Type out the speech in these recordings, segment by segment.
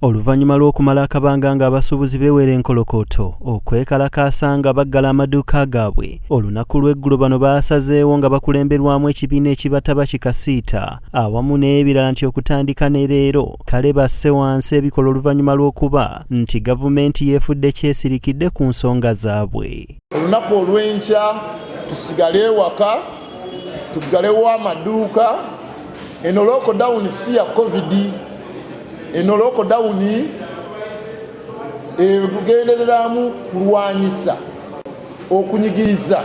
Oluvannyuma lw'okumala akabanga ng'abasuubuzi beewera enkolokooto okwekalakaasa nga baggala amaduuka gaabwe, olunaku lw'eggulo bano baasazeewo nga bakulemberwamu ekibiina ekibataba ki Kasiita awamu n'ebirala nti okutandika ne leero kale basse wansi ebikola oluvannyuma lw'okuba nti gavumenti yeefudde kyesirikidde ku nsonga zaabwe. Olunaku olw'enkya tusigale ewaka. tuggalewo amaduuka eno lockdown si ya covid eno lockdown egendereramu kulwanyisa okunyigiriza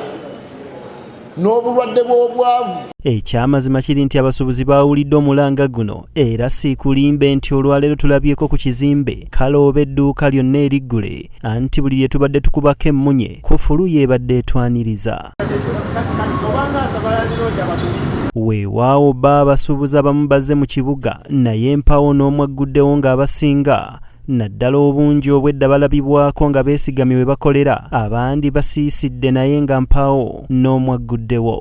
n'obulwadde bw'obwavu ekyamazima kiri nti abasuubuzi baawulidde omulanga guno era siikulimbe nti olwaleero tulabyeko ku kizimbe kalooba edduuka lyonna eriggule anti buli lye tubadde tukubako emmunye kufulu y'ebadde etwaniriza weewaawo ba abasuubuzi abamu bazze mu kibuga naye empawo n'omu agguddewo ng'abasinga naddala obungi obwedda balabibwako nga beesigamye we bakolera abandi basiisidde naye nga mpaawo n'omu agguddewo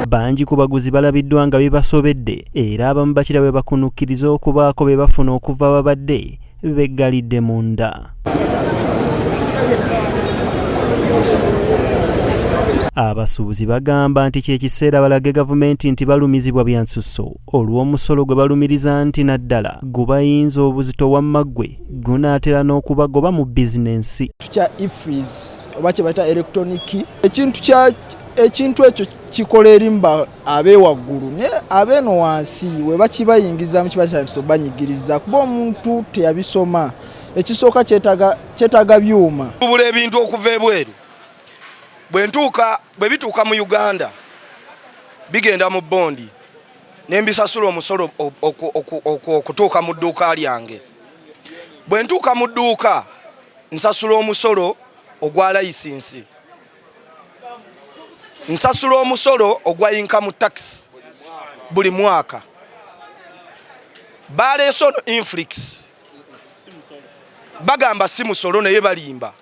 bangi ku baguzi balabiddwa nga bibasobedde era abamu bakira bwe bakunukkiriza okubaako be bafuna okuva babadde beggalidde munda abasuubuzi bagamba nti kyekiseera balage gavumenti nti balumizibwa byansusso olw'omusolo gwe balumiriza nti naddala gubayinza obuzito wammaggwe gunaatera n'okubagoba mu bizinensi oba kye bayita electronic key ekintu kya ekintu ekyo kikola erimba abeewaggulu naye abeeno wansi we bakibayingizamu kiba kyandisa obanyigiriza kuba omuntu teyabisoma ekisooka kyetaaga byuma tubula ebintu okuva ebweru bwentuuka bwe bituuka mu uganda bigenda mu bondi ne mbisasula omusolo okutuuka mu dduuka lyange bwentuuka mu dduuka nsasula omusolo ogwa layisinsi nsasula omusolo ogwa inkamu tax buli mwaka baleese ono inflix bagamba si musolo naye balimba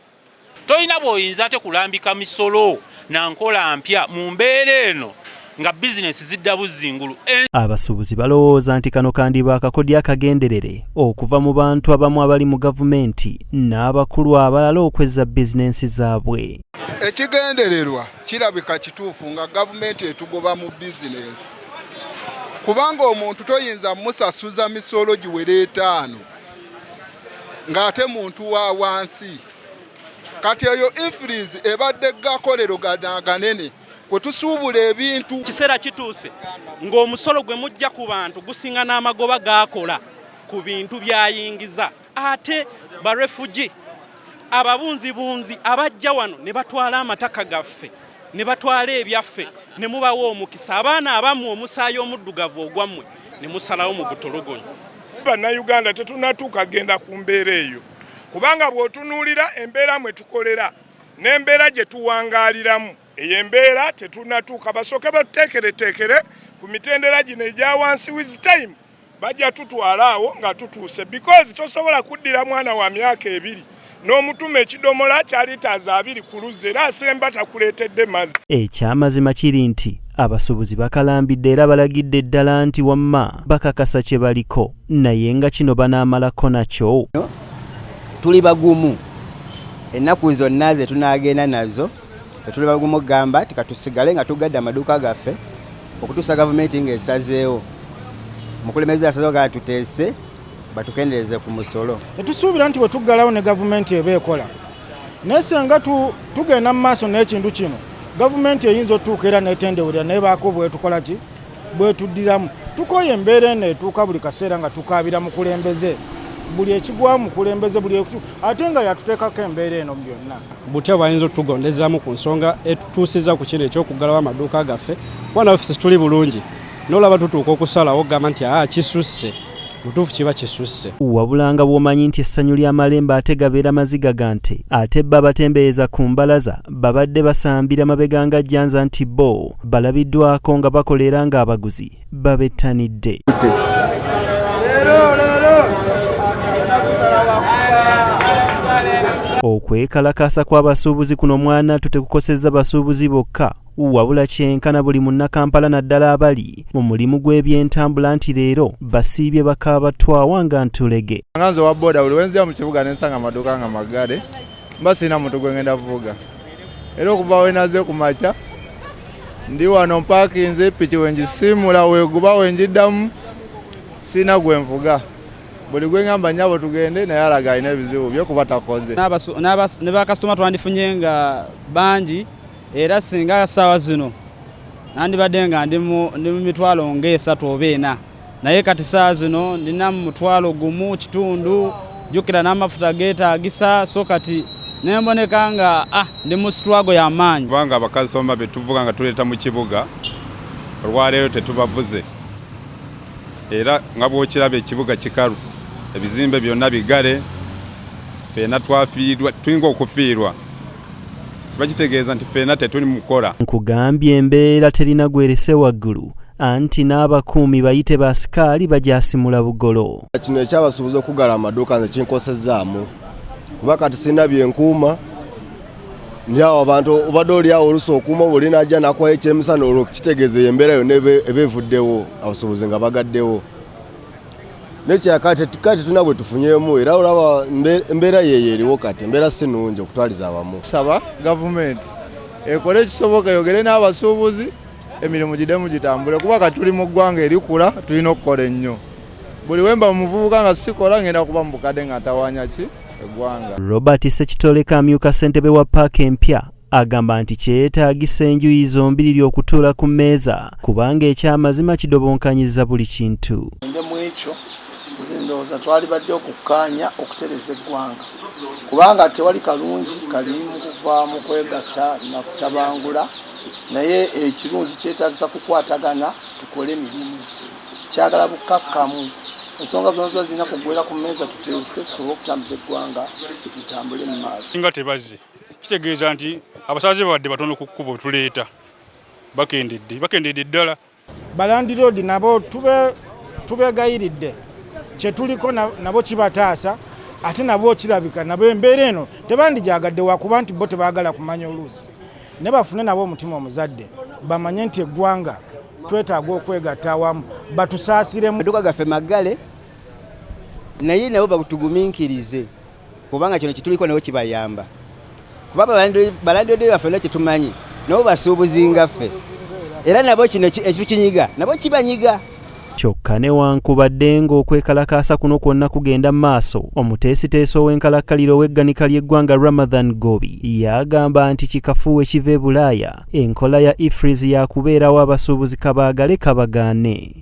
tolina bwoyinza ate kulambika misolo nankola mpya mu mbeera eno nga bizinensi zidda buzzi ngulu. Eh. Abasuubuzi balowooza nti kano kandiba akakodyo akagenderere okuva mu bantu abamu abali mu gavumenti n'abakulu abalala okwezza bizinensi zaabwe. Ekigendererwa kirabika kituufu nga gavumenti etugoba mu bizinensi kubanga omuntu toyinza musasuza misolo giwera etaano ng'ate muntu wa wansi kati eyo infirizi ebadde gakolero ganaganene. kwe tusuubula ebintu. Kiseera kituuse ng'omusolo gwe mujja ku bantu gusinga n'amagoba gaakola ku bintu by'ayingiza. Ate barefugi ababunzibunzi abajja wano ne batwala amataka gaffe ne batwala ebyaffe ne mubawa omukisa abaana abamu omusaayi omuddugavu ogwammwe ne musalawo mu butulugunya. Bannayuganda tetunatuuka kugenda ku mbeera eyo kubanga bw'otunuulira embeera mwe tukolera n'embeera gye tuwangaaliramu eyo embeera tetunatuuka basooke batuteekereteekere ku mitendera gino egya wansi with time bajja tutwala awo nga tutuuse because tosobola kuddira mwana wa myaka ebiri n'omutuma ekidomola kya litaazi abiri ku luzzi era asemba takuleetedde mazzi ekyamazima kiri nti abasuubuzi bakalambidde era balagidde ddala nti wamma bakakasa kye baliko naye nga kino banaamalako nakyo tuli bagumu. ennaku zonna ze tunaagenda nazo fe tuli bagumu okugamba ti katusigale nga tugadde amaduuka gaffe okutuusa gavumenti ng'esazeewo omukulembeze asazeewo gaa tuteese batukendeeze ku musolo tetusuubira nti bwe tuggalawo ne gavumenti eba ekola naye senga tugenda mu maaso n'ekintu kino gavumenti eyinza otutuuka era netendewerera naye baako bwetukola ki bwetuddiramu tukooye embeera eno etuuka buli kaseera nga tukaabira mukulembeze buli ekigwa mukulembeze buli ate nga yatuteekako embeera eno byonna butya bayinza otugondezaamu ku nsonga etutuusiza ku kino ekyokuggalawo amaduuka gaffe kuba nafe situli bulungi nolaba tutuuka okusalawo okugamba nti aa kisusse mutuufu kiba kisusse wabulanga bwomanyi nti essanyu lya malemba ate gabeera maziga ga nte ate bba batembeeyeza ku mbalaza babadde basambira mabega nga jjanza nti bo balabiddwako nga bakola era ng'abaguzi babettanidde okwekalakaasa kw'abasuubuzi kuno mwana tutekukosezza basuubuzi bokka wabula kyenkana buli munnakampala naddala abali mu mulimu gw'ebyentambula nti leero basiibye bakaaba twawa nga ntulege nga nze owa boda buli wenzija mu kibuga nensanga amaduuka nga maggale mba sirina muntu gwe ngenda kuvuga era okuva wenaze ku makya ndi wano mpaakinze piki wenjisiimula weguba wenjiddamu sirina gwe nvuga buli gwe ngamba nyabo tugende naye alaga alina ebizibu bye kuba takoze ne bakasitoma twandifunye nga bangi era singa saawa zino nandibadde nga ndi mu mitwalo ngaesatu oba ena naye kati saawa zino ndina mu mutwalo gumu kitundu jukira n'amafuta geetaagisa so kati nemboneka nga ah, ndi mu situwago y'amaanyi kubanga abakasitoma be tuvuga nga tuleeta mu kibuga olwaleero tetubavuze era nga bw'okiraba ekibuga kikalu ebizimbe byonna bigale feena twafiirwa tulinga okufiirwa bakitegeeza nti ffena tetuli mukukola nkugambye embeera terina gwerese waggulu anti n'abakuumi bayite ba sikaali bagyasimula bugolo kino ekyabasuubuza okugala amaduuka nze kinkosezaamu kuba kati sirina byenkuuma ndyawo abantu obadde olyawo olusa okuuma oba oli najja nakuwayo ekyemisana olwo kitegeeza eyo embeera yonna eba evuddewo abasuubuzi nga bagaddewo nekirala kati tulina bwe tufunyemu era olaba embeera yeeyo eriwo kati embeera si nungi okutwaliza awamu saba gavumenti ekole ekisoboka yogere n'abasuubuzi emirimu gidemu gitambule kuba kati tuli mu ggwanga erikula tulina okukola ennyo buli wemba muvubuka nga sikola ngenda kuba mubukadde nga tawanya ki eggwanga robert sekitoleka amyuka ssentebe wa paaka empya Agamba nti kyeyetaagisa enjuyi zombiriri okutuula ku mmeeza kubanga ekyamazima kidobonkanyiza buli kintu. Mu ekyo nze ndowooza twalibadde okukkaanya okutereza eggwanga kubanga tewali kalungi kali mu kuva mu kwegatta na kutabangula naye ekirungi kyetaagisa kukwatagana tukole mirimu kyagala bukkakkamu ensonga zona ziba zirina kuggwera ku mmeeza tuteese tusobole okutambuza eggwanga litambule mu maaso. kitegeeza nti abasaaze babadde batono ku kkubo tuleeta bakendedde bakendedde ddala balandiroodi nabo tubegayiridde kyetuliko nabo kibataasa ate nabo kirabika nabo embeera eno tebandijaagadde wakuba nti bo tebaagala kumanya oluusi ne bafune nabo omutima omuzadde bamanye nti eggwanga twetaaga okwegatta awamu batusaasiremu amaduka gaffe maggale naye nabo bagutugumiikirize kubanga kino kituliko nabo kibayamba kuba balandode baffe olina kyetumanyi nabo basuubuzi ngaffe era nabo kino ekitukinyiga nabo kibanyiga kyokka newankubadde ng'okwekalakaasa kuno kwonna kugenda maaso omuteesiteesi ow'enkalakkalira ow'egganika ly'eggwanga ramadhan gobi yagamba nti kikafuuwe kiva e bulaaya enkola ya ifris yakubeerawo abasuubuzi kabaagale kabagaane